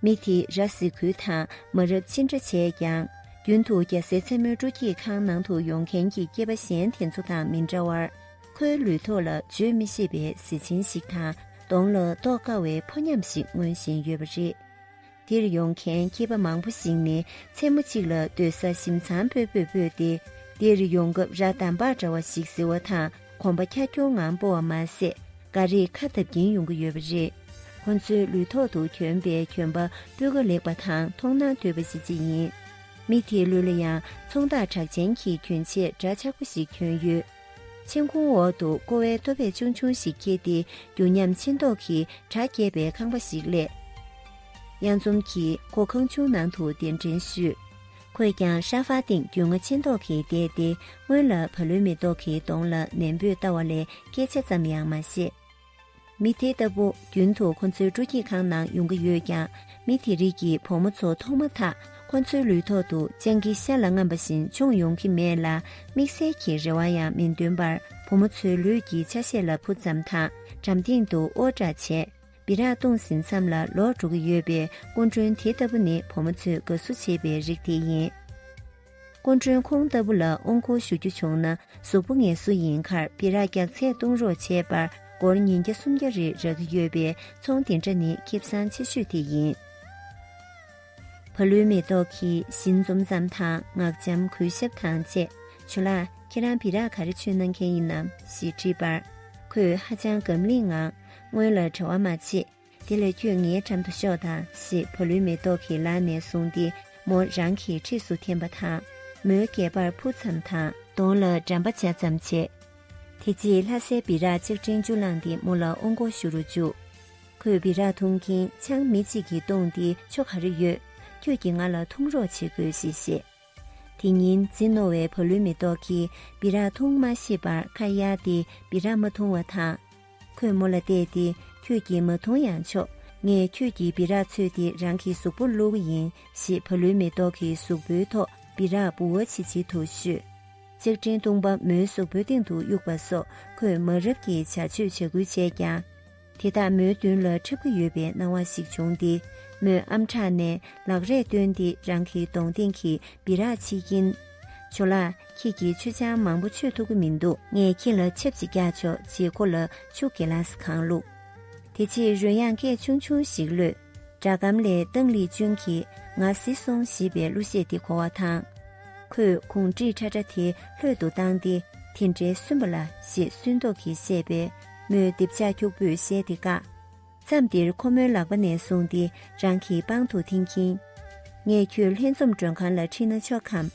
མི་དེས་ར་བཟི་ཁུལ་དང་མ་རབས་ཅི་འདྲ་བྱས་ཀྱང་རྒྱུན་དུ་རྒྱ་སེ་མཚན་མོའི་སྤྲོ་སྐྱིད་ཁང་ནང་དུ་ཡོང་མཁན་གྱི་སྐྱེས་པ་གཞན་དེ་ཚོ་དང་མི་འདྲ་བར་ཁོའི་ལུས་ཐོག་ལ་བརྗོད་མི་ཤེས་པའི་གཟི་བྱིན་ཞིག་དང་གདོང་ལ་རྟོགས་དཀའ་བའི་ཕོ་ཉམས་ཤིག་མངོན་བཞིན་ཡོད་པ་རེད། འདིར་ཡོང་མཁན་སྐྱེས་པ་མང་པོ་ཞིག་ནི་མཚན་མོ་གཅིག་ལ་སྡོད་ས་ཞིམ་ཚང་སྤོས་སྤོས་སྤོས་ཏེ་འདིར་ཡོང་སྐབས་ར་དམ་པག་འདྲ་བ་ཞིག་བཟི་བ་དང། གོམ་པ་ཁྱ་ཁྱུང་ངང་སྤོ་བ་མ་ཟད་འགའ་རེས་ཁ་འཐབ་ཀྱིན་ཡོང་གི་ཡོད་པ་རེད། ཁོ་ཚོའི་ལུས་ཐོག་ཏུ་གྱོན་པའི་གྱོན་པ་སྤུས་ཀ་ལེགས་པ་དང་མཐོང་སྣང་དོད་པ་ཞིག་ཅི་ཡིན། མི་དེའི་ལུས་ལ་ཡང་ཚོང་བདག་གྲགས་ཅན་གྱི་གྱོན་ཆས་འདྲ་ཆགས་པོ་ཞིག་གྱོན་ཡོད། མཆན་ཁུང་འོག་ཏུ་ཀོ་བའི་ལྟོ་བད་ཆུང་ཆུང་ཞིག་འཁྱེར་ཏེ་རྒྱུ་ཉམས་མཆིན་མདོག་གི་གྲ་རྒྱས་པའི་ཁང་པ་ཞིག་གླས། གཡང་འཛོམས་ཀྱིས་ཁོ་ཁང་ཆུང་ནང་དུ་གདན་འདྲེན་ཞུས། ཁོས་ཀྱང་ཧྲ་ཧྥ་སྟེང་རྒྱུས་མངའ་ཆེན་ཏོག་གིས་བསྡད་དེ་སྔོན་ལ་བ་ལུའི་མེ་ཏོག་གི་གདོང་ལ་ནན་པོས་ལྟ་བ་ལས་སྐད་ཆ་ཙམ་ཡང་མ་བཤད། མི་དེ་ལྟ་བུ་རྒྱུན་དུ་ཁོ་ཚོའི་སྤྲོ་སྐྱིད་ཁང་ནང་ཡོང་གི་ཡོད་ཀྱང་མི་དེ་རིགས་ཀྱི་བུ་མོ་ཚོ་མཐོང་མ་ཐག་ཁོ་ཚོའི་ལུས་ཐོག་ཏུ་སྤྱང་ཀི་ཤ་ལ་རྔམ་པ་བཞིན་མཆོངས་ཡོང་གི་མེད་ལ་དམིགས་བསལ་གྱི་རེ་བ་ཡང་མི་འདོན་པར་བུ་མོ་ཚོའི་ལུས་ཀྱི་ཆ་ཤས་ལ་བུ་ཙམ་དང་འགྲམ་སྟེང་དུ་ཨོ་བྲ་བྱས། སྦི་རག་གཏོང་ཟིན་མཚམས་ལ་ལོག་འགྲོ་གི་ཡོད་པའི་སྐུ་མགྲོན་དེ་ལྟ་བུ་ནི་བུ་མོ་ཚོས་དགའ་བསུ་བྱེད་པའི་རིགས་དེ་ཡིན། སྐུ་མགྲོན་ཁོང་ལྟ་བུ་ལ་ཨོང་ཁོ་ཞུ་རྒྱུ་བྱུང་ན་གཟུགས་པོ་ངལ་གསོ་ཡིན་ཁར་སྦི་རག་རྒྱག་ཚད་གཏོང་རོགས་བྱས་པར་སྒོར་ཉིན་བརྒྱ་སུམ་བརྒྱ་རེ་རག་གི་ཡོད་པའི་ཚོང་དེ་འདྲ་ནི་ཁེབ་བཟང་ཆེ་ཤོས་དེ་ཡིན། བ་ལུའི་མེ་ཏོག་གིས་བཞིན་འཛུམ་ཙམ་དང་ངག་འཇམ་གུས་ཞབས་དང་བཅས་ཇོ་ལགས་ཁྱེད་རང་སྦི་རག་ག་རེ་ཆུ་གནང་མཁན་ཡིན་ནམ་ཞེས་དྲིས་པར། ཁོས་ཧ་ཅང་སྒམ་བརླིང་ངང། སྔོན་ལ་བྲེལ་བ་མ་བྱེད། དེ་ལས་ཁྱོད་ངའི་འགྲམ་དུ་ཤོག་དང་ཞེས་བུ་ལོན་མེ་ཏོག་གི་ལག་ནས་བཟུང་སྟེ་མོ་རང་གི་འཁྲིས་སུ་འཐེན་པ་དང། མོའི་སྒལ་པར་འཕུར་ཙམ་དང། གདོང་ལ་འགྲམ་པ་བྱ་ཙམ་བྱས། དེ་རྗེས་ལྷ་སའི་སྦི་རག་ལྕགས་ཕྲེང་བཅུ་བླངས་ཏེ་མོ་ལ་ཨོ་མགོ་ཞུ་རུ་བཅུག། ཁོས་སྦི་རག་འཐུང་གིན་ཆང་མི་གཅིག་གིས་བཏུངས་ཏེ་ཆོ་ག་རེ་ཡོད། ཁྱོད་ཀྱིས་ང་ལ་འཐུང་རོགས་བྱེད་དགོས་ཞེས་བཤད། དེ་ཉིན་རྫི་རྣོ་བའི་བུ་ལོན་མེ་ཏོག་གིས་སྦི་རག་འཐུང་མ་ཤེས་པར་ཁ་གཡར་ཏེ་སྦི་རག་མ་འཐུང་བ་དང། ཁོས་མོ་ལ་བལྟས་ཏེ་ཁྱོད་ཀྱིས་མ་འཐུང་ཡང་ཆོག་ངས་ཁྱོད་ཀྱི་སྦི་རག་འཚོས་ཏེ་རང་གི་གཟུགས་པོར་བླུགས་ཡིན་ཞེས་བུ་ལོན་མེ་ཏོག་གི་གཟུགས་པོའི་ཐོག་སྦི་རག་འབུ་བ་ཆིལ་ཆིལ་དུ་བཤུས། ལྕགས་ཀྲིན་བཏུང་པ་མོའི་གཟུགས་པོའི་སྟེང་དུ་གཡུགས་པ་སོགས་ཁོས་མ་རབས་ཀྱི་བྱ་སྤྱོད་བྱ་ཁུལ་བྱས་ཀྱང། དེ་དག་མོའི་མདུན་ལ་འཁྲབ་ཀྱི་ཡོད་པའི་སྣང་བ་ཞིག་བྱུང་སྟེ་མོས་ཨམ་ཕྲག་ནས་ལག་རས་བཏོན་ཏེ་རང་གི་གདོང་སྟེང་གི་སྦི་རག་ཕྱིས་ཀྱིན། ཇོ་ལགས་ཁྱེད་ཀྱིས་ཆུ་ཆང་མང་པོ་མཆོད་ཐུབ་ཀྱི་མི་འདུག་ངས་ཁྱེད་ལ་ཆབས་ཅིག་བརྒྱག་ཆོག་ཅེས་ཁོ་ལ་ཆུ་གེ་ལཱས་གང་བླུགས། དེ་རྗེས་རོལ་དབྱངས་སྐད་ཆུང་ཆུང་ཞིག་གློད། སྒྲ་སྒམ་ལས་ཏང་ལི་ཅུན་གྱིས་ང་བཟི་སོང་ཞེས་པའི་གླུ་གཞས་དེ་གོ་བ་དང། ཁོས་གུང་བྲིས་ཁྲ་ཁྲ་དེ་ལྷོད་དུ་བཏང་སྟེ་དེ་འདྲའི་སུན་པ་ལ་ཞེས་སུན་མདོག་གིས་བཤད་པས། མོས་རྡེབ་ཆག་འཁྱུག་པོས་བཤད་དེ་བཀག། མཚམས་འདིར་ཁོ་མོའི་ལག་པ་ནས་བཟུང་སྟེ་རང་གི་པང་དུ་འཐེན་གྱིན། ངས་ཁྱོད་ལྷན་འཛོམས་མགྲོན་ཁང་ལ་ཁྲིད་ན་ཆོག་གམ།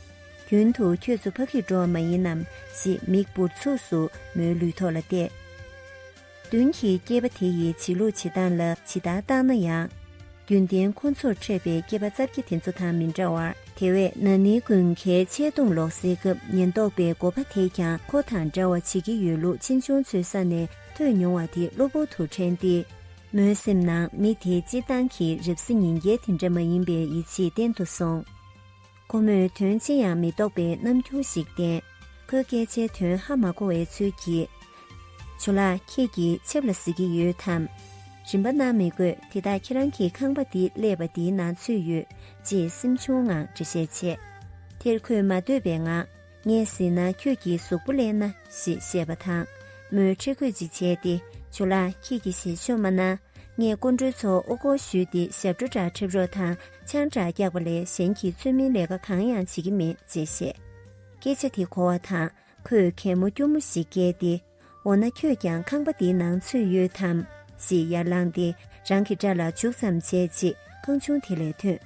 རྒྱུན་དུ་ཁྱོད་ཚོ་ཕ་གིར་འགྲོ་བ་མ་ཡིན་ནམ་ཞེས་མིག་འབུར་ཚུགས་སུ་མོའི་ལུས་ཐོག་ལ་གཏད། མདུན་གྱི་སྐྱེས་པ་དེ་ཡི་བྱེད་ལུགས་བྱེད་སྟངས་ལ་ཇི་ལྟར་བརྟགས་ན་ཡང། རྒྱུན་ལྡན་ཁོ་ཚོར་འཕྲད་པའི་སྐྱེས་པ་རྩ་བརྒྱད་དེ་ཚོ་དང་མི་འདྲ་བར་དེ་བས་ན་ནི་དགུན་ཁའི་ཆད་གཏོང་ལོག་སེལ་སྐབས་ཉེན་རྟོག་པའི་འགོ་པ་དེས་ཀྱང་ཁོ་དང་འདྲ་བ་བྱེད་ཀྱི་ཡོད་ལུགས་གཅེན་གཅུང་ཚོའི་ས་ནས་ཐོས་མྱོང་བ་དེ་གློ་བུར་དུ་དྲན་ཏེ། མོའི་སེམས་ནང་མི་དེའི་སྤྱིར་བཏང་གི་རབ་གཟི་ཉིན་རྒྱལ་དེ་འདྲ་མ་ཡིན་པའི་ཡིད་ཆེས་བརྟན་དུ་སོང། ཁོ་མོས་དོན་ཅི་ཡང་མི་རྟོགས་པའི་རྣམ་འགྱུར་ཞིག་བསྟན། ཁོའི་སྐད་ཆའི་དོན་ཧ་མ་གོ་བའི་ཚུལ་གྱིས། ཇོ་ལགས་ཁྱེད་ཀྱིས་ཆིབས་ལ་གཟིགས་ཀྱི་ཡོད་དམ། རིན་པ་གནང་མི་དགོས་དེ་དག་ཁྱེད་རང་གི་ཁང་པ་འདི་ཀླད་པ་འདིའི་ནང་ཚུད་ཡོད། ཅེས་སེམས་ཆུང་ངང་འདྲི་བཤད་བྱས། དེར་ཁོས་མ་འདོད་པའི་ངང། ངས་ཟིན་ན་ཁྱོད་ཀྱི་གཟུགས་པོ་ལེན་ན་ཞེས་བཤད་པ་དང་མོས་ཁྲེལ་དགོད་ཅིག་བྱས་ཏེ་བྱོ་ལ་ཁྱེད་ཀྱི་ཞལ་ཕྱོགས་མ་ན་ངས་སྐུ་འགྲོའི་ཚོགས་དབུ་བསྐོར་ཞུས་ཏེ་ཞབས་བྲོ་འདྲ་ཁྲེབ་རོགས་དང་ཆང་འདྲ་རྒྱག་པ་ལས་གཞན་གྱི་ཚུལ་མིན་ལས་ཀ་གང་ཡང་བྱེད་ཀྱི་མེད་ཅེས་བཤད། སྐད་ཆ་དེ་གོ་བ་དང་ཁོས་གད་མོ་སྐྱུར་མོ་ཞིག་བཀལ་ཏེ། འོ་ན་ཁྱོད་ཀྱང་ཁང་པ་འདིའི་ནང་ཚུད་ཡོད་དམ། ཞེས་ཡར་ལངས་ཏེ་རང་གི་སྐྲ་ལ་བྱུག་ཙམ་བྱས་རྗེས་ཁང་ཆུང་དེ་ལས་ཐོན།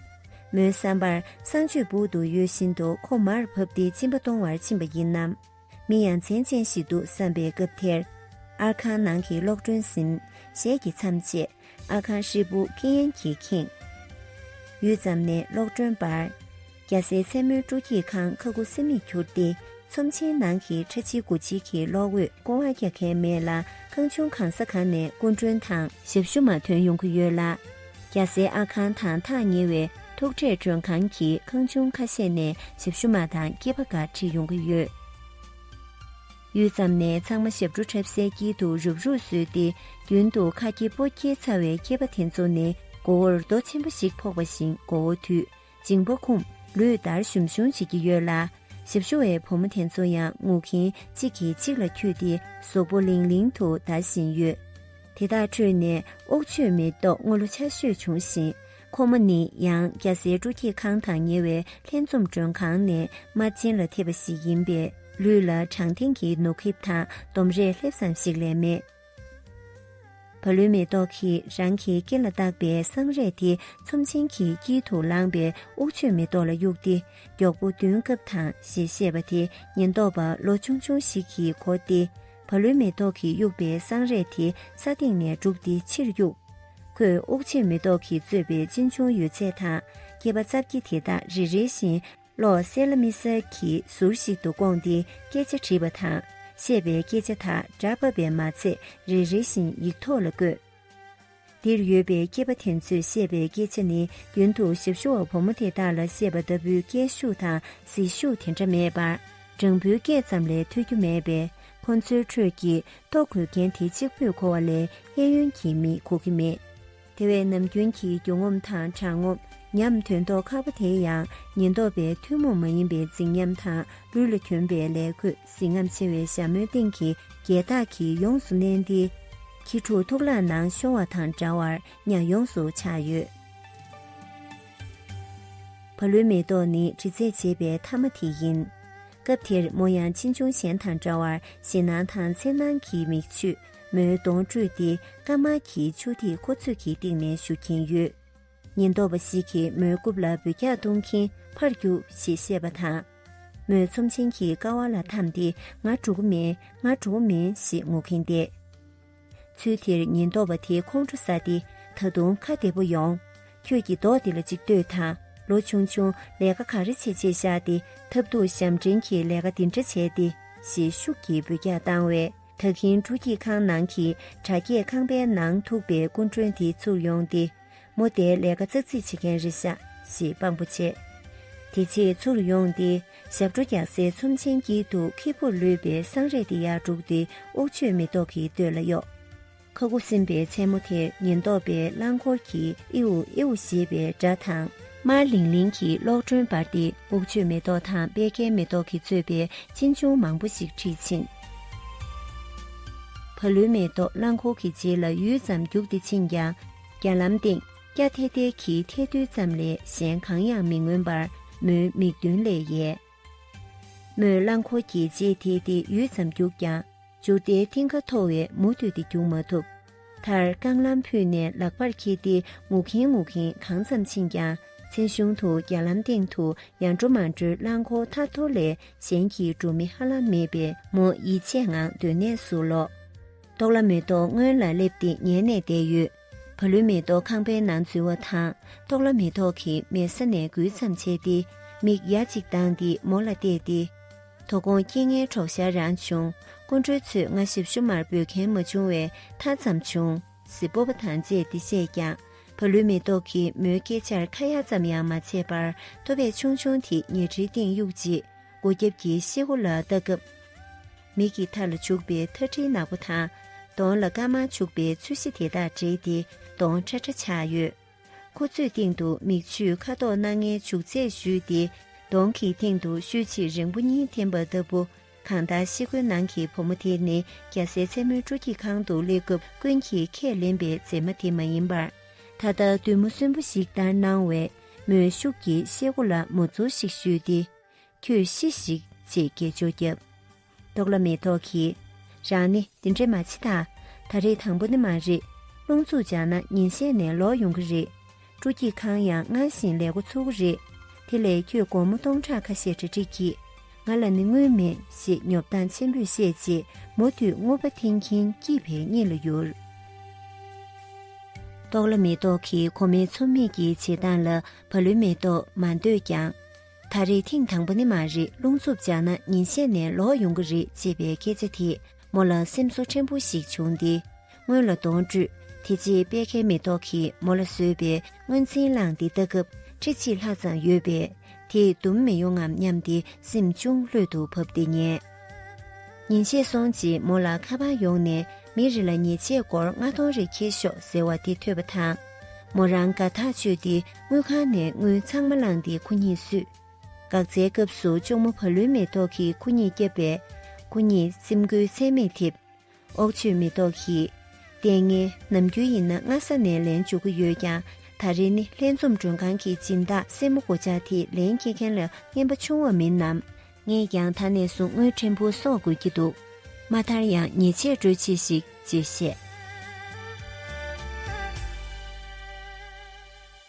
མོའི་བསམ་པར་བསང་མཆོད་སྦུག་ཏུ་ཡོད་བཞིན་དུ་ཁོ་མར་བབས་ཏེ་གཅིན་པ་གཏོང་བར་ཕྱིན་པ་ཡིན་ནམ། མི་ཡ་མཚན་ཅན་ཞིག་འདུག་བསམ་པའི་སྐབས་དེར། ཨར་ཁང་ནང་གི་གློག་སྒྲོན་སིམ། ཞེས་ཀྱིས་མཚམས་བཅད། ཨ་ཁང་ཧྲིལ་པོ་ཀི་ཡན་གྱིས་ཁེངས། ཡུད་ཙམ་ནས་གློག་སྒྲོན་འབར། རྒྱ་སེའི་མཚན་མོའི་སྤྲོ་སྐྱིད་ཁང་ཁ་ཁུ་སིམ་མེར་གྱུར་ཏེ་ཚོམས་ཆེན་ནང་གི་ཁྲ་ཆིལ་སྒོ་ཆིལ་གྱི་གློག་འོད་ཀོ་བ་རྒྱག་མཁན་མེད་ལ་ཁང་ཆུང་གང་ས་གང་ནས་སྐུ་མགྲོན་དང། ཞབས་ཞུ་མ་ཐོན་ཡོང་གི་ཡོད་ལ། རྒྱ་སེའི་ཨ་ཁང་དང་ཐག་ཉེ་བའི་ཐུག་འཕྲད་མགྲོན་ཁང་གི་ཁང་ཆུང་ཁ་ཤས་ནས་ཞབས་ཞུ་མ་དང་སྐྱེས་པ་འགའ་ཁྲིད་ཡོང་གི་ཡོད། ཡུད་ཙམ་ནས་ཚང་མ་ཞབས་བྲོ་འཁྲབ་སའི་དཀྱིལ་དུ་རུབ་རུབ་བཟོས་ཏེ་རྒྱུན་དུ་ཁ་སྐྱེ་སྤོ་སྐྱེ་ཚ་བའི་སྐྱེས་པ་དེ་ཚོ་ནི་མགོ་བོར་རྡོ་ཆེན་པོ་ཞིག་ཕོག་པ་བཞིན་མགོ་བོ་དུད་ཅིང་པོ་ཁུམ་ལུས་འདར་ཞུམ་ཞུམ་བྱེད་ཀྱི་ཡོད་ལ། ཞབས་ཞུ་བའི་བུ་མོ་དེ་ཚོ་ཡང་ངུ་གིན་གཅིག་གིས་གཅིག་ལ་འཁྱུད་དེ་ཟོག་པོ་ལིང་ལིང་དུ་འདར་བཞིན་ཡོད། དེ་དག་ཁྲོད་ནས་ཨོག་ཆོས་མེ་ཏོག་སྔོ་ལོ་ཆ་ཤོས་བྱུང་ཞིང་ཁོ་མོ་ནི་ཡང་སྐྱ་སེར་སྤྲོ་སྐྱིད་ཁང་དང་ཉེ་བའི་ལྷན་འཛོམས་མགྲོན་ཁང་ནས་མ་བྱིན་ལ་ཐེབས་པ་ཞིག་ཡིན་པས་ལུས་ལ་དྲང་ཐིང་གི་ནོར་ཁེབས་དང་འདོམ་རས་ལྷེབ་ཙམ་ཞིག་ལས་མེད། བ་ལུའི་མེ་ཏོག་གིས་རང་གི་སྐེ་ལ་བཏགས་པའི་སྲང་རས་དེ་ཚོམས་ཆེན་གྱི་དཀྱིལ་དུ་ལངས་པའི་དབུགས་ཆོས་མེ་ཏོག་ལ་གཡུགས་ཏེ་མགྱོགས་པོ་མདུན་བཀབ་དང་ཞེས་བཤད་པ་དེ་ཉེན་རྟོག་པ་ལོ་ཆུང་ཆུང་ཞིག་གིས་གོ་སྟེ། བ་ལུའི་མེ་ཏོག་གིས་དབྱུག་པའི་སྲང་རས་དེ་ས་སྟེང་ནས་བསྒྲུགས་ཏེ་ཕྱིར་དབྱུགས། ཁོས་དབུགས་ཕྱིར་མེ་ཏོག་གིས་གཙོས་པའི་གཅིན་ཆུང་ཡོད་ཚད་དང་སྐྱེས་པ་རྩྭ་བརྒྱད་དེ་དག་རེ་རེ་བཞིན་བློ་གསལ་ལ་མི་གསལ་གྱི་ཟུར་ཞིག་ཏུ་བསྐོངས་ཏེ་སྐད་ཆ་དྲིས་པ་དང་བཤད་པའི་སྐད་ཆ་དག་སྒྲ་ཕབ་པས་མ་ཚད་རེ་རེ་བཞིན་ཡིག་ཐོག་ལ་བཀོད། འདིར་ཡོད་པའི་སྐྱེས་པ་དེ་ཚོས་བཤད་པའི་སྐད་ཆ་ནི་རྒྱུན་དུ་ཞབས་ཞུ་བ་བུ་མོ་དེ་དག་ལ་བཤད་པ་ལྟ་བུའི་སྐད་ཤུགས་དང་ཟིལ་ཤུགས་དེ་འདྲ་མེད་པར། སྦྲང་བུའི་སྐད་ཙམ་ལས་ཐོས་རྒྱུ་མེད་པས་ཁོ་ཚོའི་ཁྲོད་ཀྱི་ལྟོ་གོས་མཁན་དེ་གཅིག་པུས་གོ་བ་ལས་གཡས་གཡོན་གྱི་མིས་གོ་གི་མེད། དེ་བས་ནམ་རྒྱུན་གྱི་རྒྱུ་ངོམ་དང་དྲང་ངོམ་ཉམས་དོན་ལྡོག་ཁག་པོ་དེ་ཡང་ཉེན་རྟོག་པས་ཐུན་མོང་མ་ཡིན་པའི་རྫིག་ཉམས་དང་ལུས་ལ་གྱོན་པའི་ལས་གོས་གཟི་རྔམ་ཆེ་བའི་ཞྭ་མོའི་སྟེང་གི་རྒྱལ་རྟགས་ཀྱིས་ཡོངས་སུ་མནན་ཏེ། ཁྱི་ཕྲུག་ཐུག་ལག་ནང་ཤོར་བ་དང་འདྲ་བར་གཉའ་ཡོངས་སུ་ཆགས་ཡོད། བ་ལུའི་མེ་ཏོག་ནི་དྲི་ཚད་འབྱེད་པའི་མཐའ་མ་དེ་ཡིན། སྐབས་དེར་མོ་ཡང་ཅི་འབྱུང་གཞན་དང་འདྲ་བར་ཞེད་སྣང་དང་འཚེར་སྣང་གིས་མིག་ཆུ་མོའི་གདོང་བཀྲུས་ཏེ་དཀར་དམར་གྱི་ཆུ་ཐིགས་ཁོ་ཚོས་གྱི་སྟེང་ནས་བཞུར་གྱིན་ཡོད། ཉེན་རྟོག་པ་ཞིག་གིས་མོའི་རྐུབ་ལ་འབུད་རྒྱག་གཏོང་གིན་ཕར་རྒྱུགས་ཞེས་བཤད་པ་དང། མོས་ཚོམས་ཆེན་གྱི་ཀ་བ་ལ་འཐམས་ཏེ་ང་འགྲོ་གི་མིན་ང་འགྲོ་གི་མིན་ཞེས་ངུ་གིན་བསྡད། ཚུལ་དེར་ཉེན་རྟོག་པ་དེ་ཁོང་ཁྲོ་ཟ་སྟེ་ད་དུང་ཁ་བདེ་པོ་ཡོང། ཁྱོད་ཀྱིས་མདོག་འདི་ལ་ཅིག་ལྟོས་དང་ལོ་ཆུང་ཆུང་ལས་ཀ་ག་རེ་བྱེད་ཅེས་བཤགས་ཏེ་ཐབས་སྡུག་ཞབས་འདྲེན་གྱིས་ལས་ཀ་འདི་འདྲ་བྱས་ཏེ་ཞེས་ཤུགས་ཀྱིས་འབུད་རྒྱག་བཏང་བས་ད་གིན་ཕྲུ་སྐྱིད་ཁང་ནང་གི་དྲ་རྒྱས་ཁང་པའི་ནང་ཐུག་པའི་སྐུ་མགྲོན་དེ་ཚུར་ཡོང་སྟེ། མོ་རྟའི་ལས་ཀ་རྩ་ཚིག་བྱེད་མཁན་རེད་ཤག་ཞེས་དཔང་པོ་བྱས། དེ་ཕྱིར་ཚུར་ལ་ཡོང་སྟེ་ཞབས་བྲོ་རྒྱག་སའི་ཚོམས་ཆེན་དཀྱིལ་དུ་ཁེར་བོར་ལུས་པའི་སྲང་རས་དེ་ཡར་དཀྲུགས་ཏེ་ཨོག་ཆོས་མེ་ཏོག་གི་སྟོད་ལ་གཡོགས། ཁ་སྒོ་སིམ་པའི་མཚན་མོ་དེར་ཉེན་རྟོག་པས་རླངས་འཁོར་གྱིས་ཨེའུ་ཨེའུ་ཞེས་པའི་སྒྲ་དང། དམར་ལིང་ལིང་གི་གློག་སྒྲོན་སྦར་ཏེ་ཨོག་ཆོས་མེ་ཏོག་དང་པད་ཁའི་མེ་ཏོག་གིས་གཙོས་པའི་གཅིན་ཆུང་མང་པོ་ཞིག་འཁྲིད་ཕྱིན། བ་ལུའི་མེ་ཏོག་རླངས་འཁོར་གྱི་རྗེས་ལ་ཡུད་ཙམ་རྒྱུགས་ཏེ་ཕྱིན་ཀྱང་རྒྱ་ལམ་སྟེང་སྐྱ་ཐལ་ཐལ་གྱི་ཐལ་རྡུལ་ཙམ་ལས་གཞན་གང་ཡང་མི་མངོན་པར་མོའི་མིག་མདུན་ལས་ཡལ། མོས་རླངས་འཁོར་གྱི་རྗེས་དེད་དེ་ཡུད་ཙམ་རྒྱུགས་ཀྱང་འཇུར་རྟའི་མཐིང་ག་མཐོ་བས་མུ་མཐུད་དེ་རྒྱུགས་མ་ཐུབ། མཐར་རྐང་ལམ་ཕུད་ནས་ལག་པར་འཁྱེར་ཏེ་ངུ་གིན་ངུ་གིན་གང་ཙམ་ཕྱིན་ཀྱང་མཚན་གཞུང་དུ་རྒྱ་ལམ་སྟེང་དུ་ཡར་འགྲོ་མར་འགྲོའི་རླངས་འཁོར་ཐར་ཐོར་ལས་གཞན་གྱི་འགྲོ་མི་ཧ་ལམ་མེད་པས་མོ་ཡིད་ཆད་ངང་སྡོད་གནས་སུ་ལོག། ཏོག་ལ་མེ་ཏོག་སྔོན་ལ་སླེབས་ཏེ་ཉལ་ནས་བསྡད་ཡོད། བ་ལུའི་མེ་ཏོག་ཁང་པའི་ནང་འཛུལ་བ་དང་ཏོག་ལ་མེ་ཏོག་གི་མལ་ས་ནས་འགུལ་ཙམ་བྱས་ཏེ་མིག་ཡ་གཅིག་གདངས་ཏེ་མོ་ལ་བལྟས་ཏེ། དོ་དགོང་སྐྱིད་ངའི་གྲོགས་ཤར་རང་བྱུང། སྐུ་མགྲོན་ཚོས་སྔ་ཞིབ་ཞུ་མར་འབོད་མཁན་མ་བྱུང་བས་མཐའ་ཙམ་བྱུང། སྤོབས་པ་དང་བཅས་འདི་བཤད་ཀྱང། བ་ལུའི་མེ་ཏོག་གིས་མོའི་སྐད་ཆར་ཁ་ཡ་ཙམ་ཡང་མ་བྱས་པར་ཐོ་བས་ཆུང་ཆུང་དེ་ཉལ་ཁྲིའི་སྟེང་གཡུགས་རྗེས་སྒོ་རྒྱབ་ཀྱི་ཤེལ་སྒོ་ལ་ལྟ་སྐབས། མིག་གི་མཐའ་ལ་བྱུགས་པའི་ཐ་ཁྲིའི་ནག་པོ་དང་གདོང་ལ་དཀར་དམར་བྱུགས་པའི་ཚུལ་བཞི་དེ་དག་འདྲེས་ཏེ་གདོང་ཁྲ་ཁྲ་ཆགས་ཡོད། ཁོ་ཚོས་སྟེང་དུ་མིག་ཆུས་ཁ་དོག་སྣ་ལྔའི་བྱུག་ཚད་བཞུས་ཏེ་གདོང་གི་སྟེང་དུ་ཤུལ་ཕྱིར་རེང་བུ་གཉིས་འཐེན་པ་ལྟ་བུ། གང་ལྟར་ཤེལ་སྒོའི་ནང་གི་བུ་མོ་དེ་ནི་རྒྱལ་སའི་མཚན་མོའི་སྤྲོ་སྐྱིད་ཁང་དུ་སླེབས་སྐབས་ཀུན་གྱིས་ཁས་ལེན་པའི་མཛེས་མ་དེ་མ་ཡིན་པར། ད་ལྟ་བདུད་མོ་གསོན་པོ་ཞིག་ལྟར་སྣང་བས་མོས་ཤུགས་ཀྱིས་ཤེལ་སྒོ་ལ་མོ་ཚོར་ཞིག་གཞུས་ཏེ། ཁྱོད་ཤི་ཞིག་ཅེས་སྐད་ཅོར་བརྒྱབ། རྟོགས་ལ་མེད་རྟོགས་གི། རང་ནི་འདི་འདྲས་མ་མཆིས་ད། ད་རེས་དང་པོ་ནི་མ་རེད། རླུང་འཚུབ་སྦྱངས་ན་ཉིན་ཤས་ནས་ལོག་ཡོང་གི་རེད། སྤྲོ་སྐྱིད་ཁང་ཡང་སྔར་བཞིན་ལས་འགོ་ཚུགས་ཀྱི་རེད། དེ་ལས་ཁྱོས་སྒོར་མོ་སྟོང་ཕྲག་ཁ་ཤས་གྲ་སྒྲིག་གྱིས། ང་ལ་ནི་དངུལ་མེད་ཞེས་ཉོབ་སྟངས་ཆེན་པོས་བཤད་རྗེས་མུ་མཐུད་དངུལ་པ་འཐེན་གྱིན་སྐྱིད་བའི་གཉིད་ལ་ཡུར། རྟོགས་ལ་མེད་རྟོགས་གི་ཁོ་མོའི་འཚུབ་མེད་ཀྱི་བྱེད་སྟངས་ལ་བ་ལུས་མེད་རྟོགས་མ་འདོད་ཀྱང། ད་རེས་ཐེངས་དང་པོ་ནི་མ་རེད་རླུང་འཚུབ་འཇགས་ན་ཉིན་ཤས་ནས་ལོག་ཡོང་གི་རེད་ཅེས་པའི་སྐད་ཆ་དེས་མོ་ལ་སེམས་གསོ་ཕྲན་བུ་ཞིག་བྱུང་སྟེ་སྔོན་ལ་གདོང་བཀྲུས། དེ་རྗེས་དཔལ་ཁའི་མེ་ཏོག་གིས་མོ་ལ་བཟོས་པའི་དངོས་འཛིན་བླངས་ཏེ་ལྟ་སྐབས་ཁྲི་གཅིག་ལྷག་ཙམ་ཡོད་པས་དེས་བསྡུམ་མི་ཡོང་ངམ་སྙམ་སྟེ་སེམས་ཅུང་ལྷོད་དུ་བབས་ཏེ་ཉལ། ཉིན་ཕྱེད་སོང་རྗེས་མོ་ལ་ཁ་འཕངས་ཡོང་ནས་མི་རེ་ལ་ཉེས་ཆད་སྒོར་ལྔ་སྟོང་རེ་འཁྱེར་ཤོག་ཟེར་བ་དེ་ཐོས་པ་དང། མོ་རང་དགའ་ཐག་ཆོད་དེ་དངུལ་ཁང་ནས་དངུལ་ཚང་མ་བླངས་ཏེ་ཁུ་ཉིད་བསུས། འགག་རྩའི་སྐབས་སུ་གཅུང་མོ་བ་ལུའི་མེ་ཏོག་གིས་ཁུ་ཉིད་བསྐྱབས་པས། ཁུ་ཉིད་སེམས་འགུལ་ཚད་མེད་ཐེབས། ཨོག་ཆོས་མི་ལྡོག་གིས། ལྟས་ངན་ནམ་རྒྱུན་ཡིན་ན་སྔ་ས་ནས་ལན་འཇུག་གི་ཡོད་ཀྱང་ད་རེས་ནི་ལྷན་འཛོམས་མགྲོན་ཁང་གི་སྦྱིན་བདག་སེར་མོ་སྒོ་ལྕགས་དེས་ལན་སྐྱེལ་མཁན་ལ་རྔན་པ་ཆུང་བ་མིན་ནམ། ངས་ཀྱང་ད་ནས་བཟུང་དངུལ་ཕྲན་བུ་གསོག་དགོས་ཀྱི་འདུག་མ་མཐར་ཡང་ཉེས་ཆད་སྤྲོད་ཆེད་ཞིག་ཅེས་བཤད།